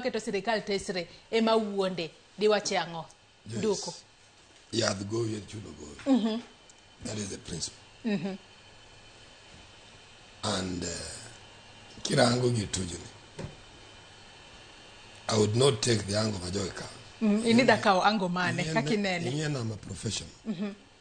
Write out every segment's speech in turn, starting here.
keto sirikal tesre ema wuonde diwache ang'o yes. nduku yadh goyo en chuno goyo mm -hmm. that is the principle mm -hmm. and uh, kirango gi tujoni i would not take the ango majowe kawo mm, inida kawo ango mane kaka inene ing'e nama professional mm -hmm.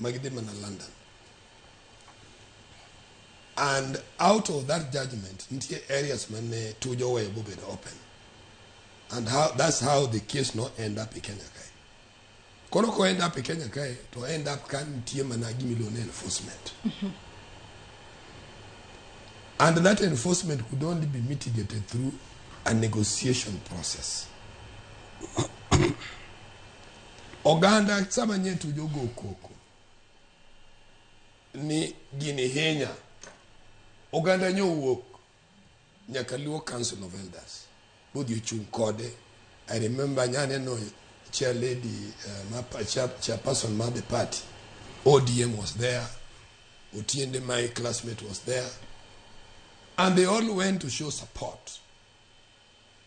magi dhi mana London and out of that judgment nitie areas mane tujo oweyo bobedo open and how, that's how the case no end up e Kenya kae koro ko end up e Kenya kae to end up ka nitie mana gimiluongo ni enforcement and that enforcement could only be mitigated through a negotiation process Oganda sama nyien to jogo koko ni gini hinya. Oganda nyowuok nyaka Luo Council of Elders. Bodi ochung' kode. I remember nyane no chair lady uh, ma pa- chair, chairperson ma the party. ODM was there. Otiende my classmate was there. And they all went to show support.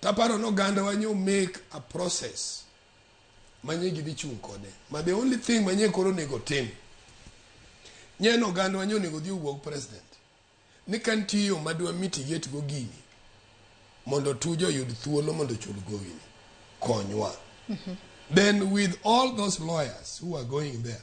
Taparo ni ogandawa nyo make a process manye gidhi chung' kode ma the only thing manye koro onego tim nye ni ogandawa nyo onego dhi owuog president ni ka nitie yo madwa mitigate go gini mondo tuja oyud thuolo mondo ochul gowini konywa then with all those lawyers who are going there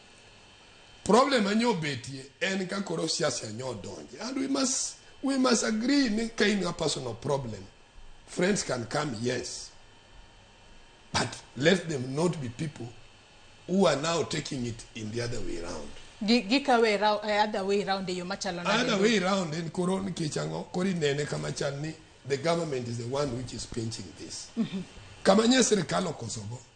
Problem ma nyo betie en ka koro siasa nyo donje. And we must, we must agree ni ka in a personal problem, friends can come, yes. But let them not be people who are now taking it in the other way around. Gi- gikawe ra- eh, other way round eyo machalo nade? Other way around en koro nikech ang'o koro inene kama chal ni the government is the one which is pinching this. Kama nye sirikal okosogo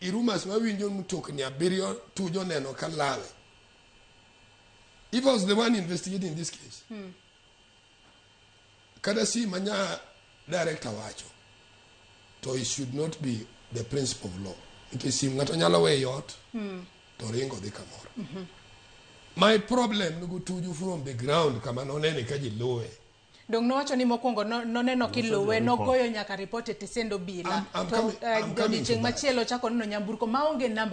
I rumors wawinjo ni mtokni abiriyo Tuju oneno ka lal. If I was the one investigating this case, hmm. kata si manya director wacho, to it should not be the principle of law. Nikech sim ng'ato nyalo weyo ot, hmm. to ringo dhi kamoro. Mm -hmm. My problem nugu Tuju from the ground kama nonene ka ji luwe. Donge nowacho ni mokwongo no- noneno kiluwe report. nogoyo nyaka ripot e tisend obila I'm- I'm to coming- eh, I'm coming to odiechieng' that. machielo ochako neno nyamburko maonge namba